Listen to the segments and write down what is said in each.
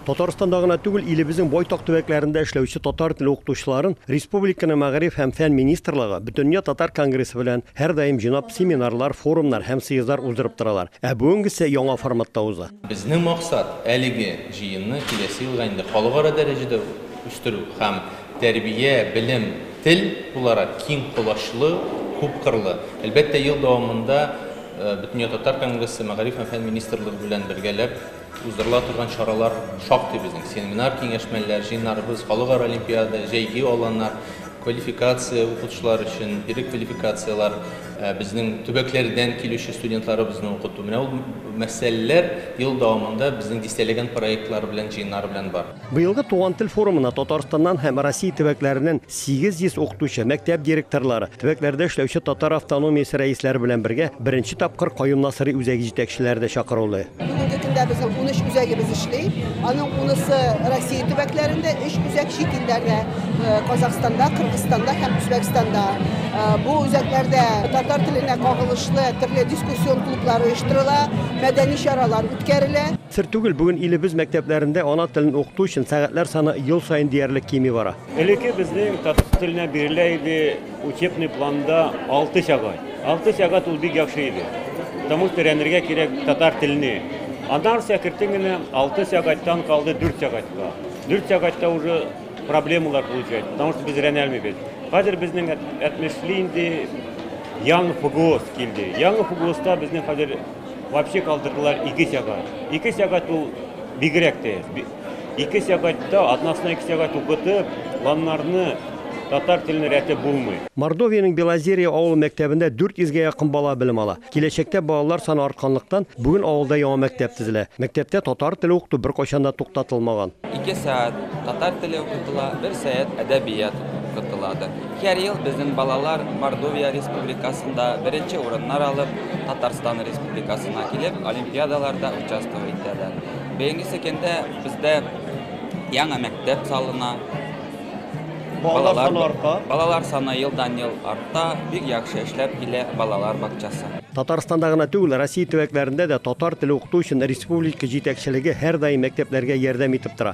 Татарстанда гына түгел, илебезнең байтак төбәкләрендә эшләүче татар теле укытучыларын республиканың Мәгариф һәм фән министрлыгы Бөтендөнья татар конгрессы белән һәрдаим җыйнап, семинарлар, форумнар һәм съездлар уздырып торалар. Ә бүгенгесе яңа форматта уза. Безнең максат, әлеге җыенны киләсе елга инде халыкара дәрәҗәдә үстерү һәм тәрбия, белем, тел буларак киң колачлы, күпкырлы. Әлбәттә, ел дәвамында Бөтендөнья татар конгрессы Мәгариф һәм фән министрлыгы белән бергәләп, Уздырыла торган чаралар шактый безнең. Семинар, киңәшмәләр, җыеннарыбыз, халыкара олимпиада, җәйге аланнар, квалификация укытучылар өчен, бирек квалификацияләр, э, безнең төбәкләрдән килүче студентларыбызны укыту. Менә ул мәсьәләләр ел дәвамында безнең дистәләгән проектлар белән, җыеннар белән бар. Быелгы Туган тел форумына Татарстаннан һәм Россия төбәкләреннән 800 укытучы, мәктәп директорлары, төбәкләрдә эшләүче татар автономиясе рәисләре белән бергә беренче тапкыр Каюм Насыйри үзәге җитәкчеләре дә чакырылды. Бүгенге көндә безнең 13 үзәгебез эшли. Аның унысы Россия төбәкләрендә, өч үзәк чит илләрдә, Казахстанда, Кыргызстанда һәм Үзбәкстанда. Бу үзәкләрдә татар теленә кагылышлы төрле дискуссион клублар оештырыла, мәдәни чаралар үткәрелә. Сер түгел, бүген илебез мәктәпләрендә ана телен укыту өчен сәгатьләр саны ел саен диярлек кими бара. Элекке безнең татар теленә бирелә иде учебный планда алты сәгать. Алты сәгать ул бик яхшы иде. Потому что өйрәнергә кирәк татар телне. Аннары шәкертең генә алты сәгатьтән калды дүрт сәгатькә. Дүрт сәгатьтә уже проблемалар получается, потому что без өйрәнә алмыйбыз. Хәзер безнең әтмешли инде яңа ФГОС килде. Яңа ФГОСта безнең хәзер Вообще калдырдылар ике сәгать. Ике сәгать ул бигрәк тә. Ике сәгатьтә односына ике сәгать укытып, ланнарны татар телен рәтеп булмый. Мордовиянең Белозерье авылы мәктәбендә 400-гә якын бала белем ала. Киләчәктә балалар саны артканлыктан, бүген авылда яңа мәктәп төзелә. Мәктәптә татар теле укыту беркайчан да туктатылмаган. Ике сәгать татар теле укытыла, бер сәгать әдәбият укытыладыр. Һәр ел безнең балалар Мордовия республикасында беренче урыннар алып, Татарстан республикасына килеп, олимпиадаларда участвовать итәләр. Бәйге секендә бездә яңа мәктәп салына. Балалар, балалар саны елдан-ел арта, бик яхшы эшләп килә балалар бакчасы. Татарстанда гына түгел, Россия төбәкләрендә дә татар теле укыту өчен республика җитәкчелеге һәрдаим мәктәпләргә ярдәм итеп тора.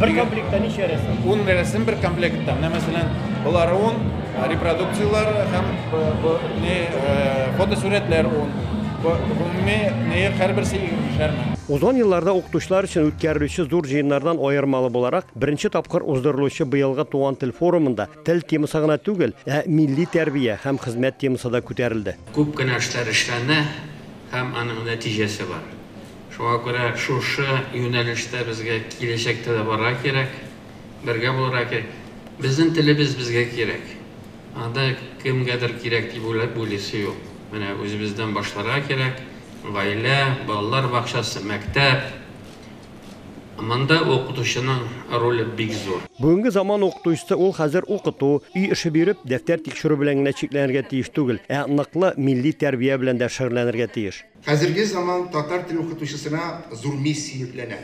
Бер комплектта ничә рәсем? Ун рәсем бер комплектта. Менә мәсәлән, болар ун репродукцияләр һәм не фотосурәтләр ун. Гомуми не һәрберсе егермешәрме. Узган елларда укытучылар өчен үткәрелүче зур җыеннардан аермалы буларак, беренче тапкыр уздырылучы быелгы Туган тел форумында тел темасы гына түгел, ә милли тәрбия һәм хезмәт темасы да күтәрелде. Күп кенә эшләр эшләнә һәм аның нәтиҗәсе бар. Шуңа күрә шушы юнәлештә безгә киләчәктә дә барырга кирәк, бергә булырга кирәк. Безнең телебез безгә кирәк. Анда кемгәдер кирәк дип уйлап уйлыйсы юк. Менә үзебездән башларга кирәк, гаилә, балалар бакчасы, мәктәп. Монда укытучының роле бик зур. Бүгенге заман укытучысы ул хәзер укыту, өй эше биреп, дәфтәр тикшерү белән генә чикләнергә тиеш түгел, ә ныклы милли тәрбия белән дә шөгыльләнергә тиеш. Хәзерге заман татар теле укытучысына зур миссия йөкләнә.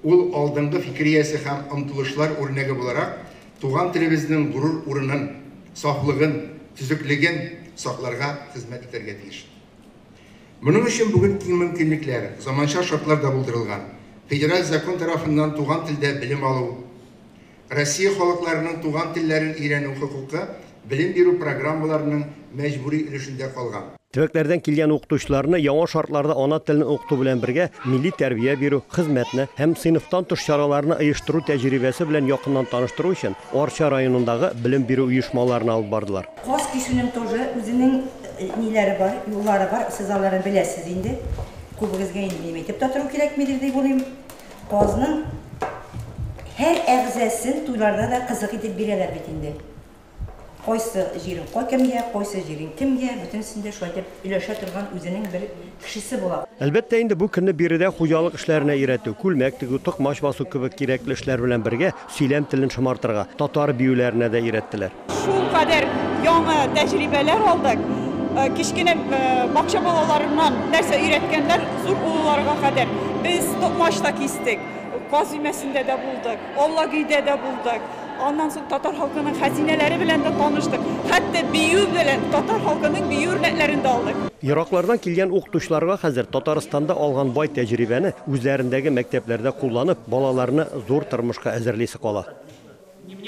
Ул алдынгы фикериясе һәм омтылышлар үрнәге буларак, туган телебезнең горур урынын, сафлыгын, төзеклеген сакларга хезмәт итәргә тиеш. Моның өчен бүген киң мөмкинлекләр, заманча шартлар да булдырылган. Федераль закон тарафыннан туган телдә белем алу, Россия халыкларының туган телләрен өйрәнү хокукы белем бирү программаларының мәҗбүри өлешендә калган. Төбәкләрдән килгән укытучыларны яңа шартларда ана телен укыту белән бергә милли тәрбия бирү, хезмәтне һәм сыйныфтан тыш чараларны оештыру тәҗрибәсе белән якыннан таныштыру өчен Арча районындагы белем бирү оешмаларына алып бардылар. Каз кисүнең тоже үзенең ниләре бар, юллары бар, сез аларны беләсез инде. Күбегезгә инде минем әйтеп тә тору кирәкмидер дип уйлыйм. Казның һәр әгъзасын туйларда да кызык итеп бирәләр бит инде. Кайсы җирең кайкемгә, кайсы җирең кемгә, бөтенесен дә шулай итеп өләшә торган үзенең бер кешесе була. Әлбәттә инде, бу көнне биредә хуҗалык эшләренә өйрәтү, күлмәк тегү, токмач басу кебек кирәкле эшләр белән бергә, Сөйләм телен шомартырга татар биюләренә дә өйрәттеләр. Шул кадәр яңа тәҗрибәләр алдык. Кечкенә бакча балаларыннан нәрсә өйрәткәннәр, зур олыларга кадәр. Без токмач та кистек, каз өмәсендә дә булдык, Аллагөйдә дә булдык. Аннан соң татар халкының хәзинәләре белән дә таныштык. Хәтта бию белән татар халкының бию үрнәкләрен дә алдык. Ераклардан килгән укытучыларга хәзер Татарстанда алган бай тәҗрибәне үзләрендәге мәктәпләрдә кулланып, балаларны зур тормышка әзерлисе кала.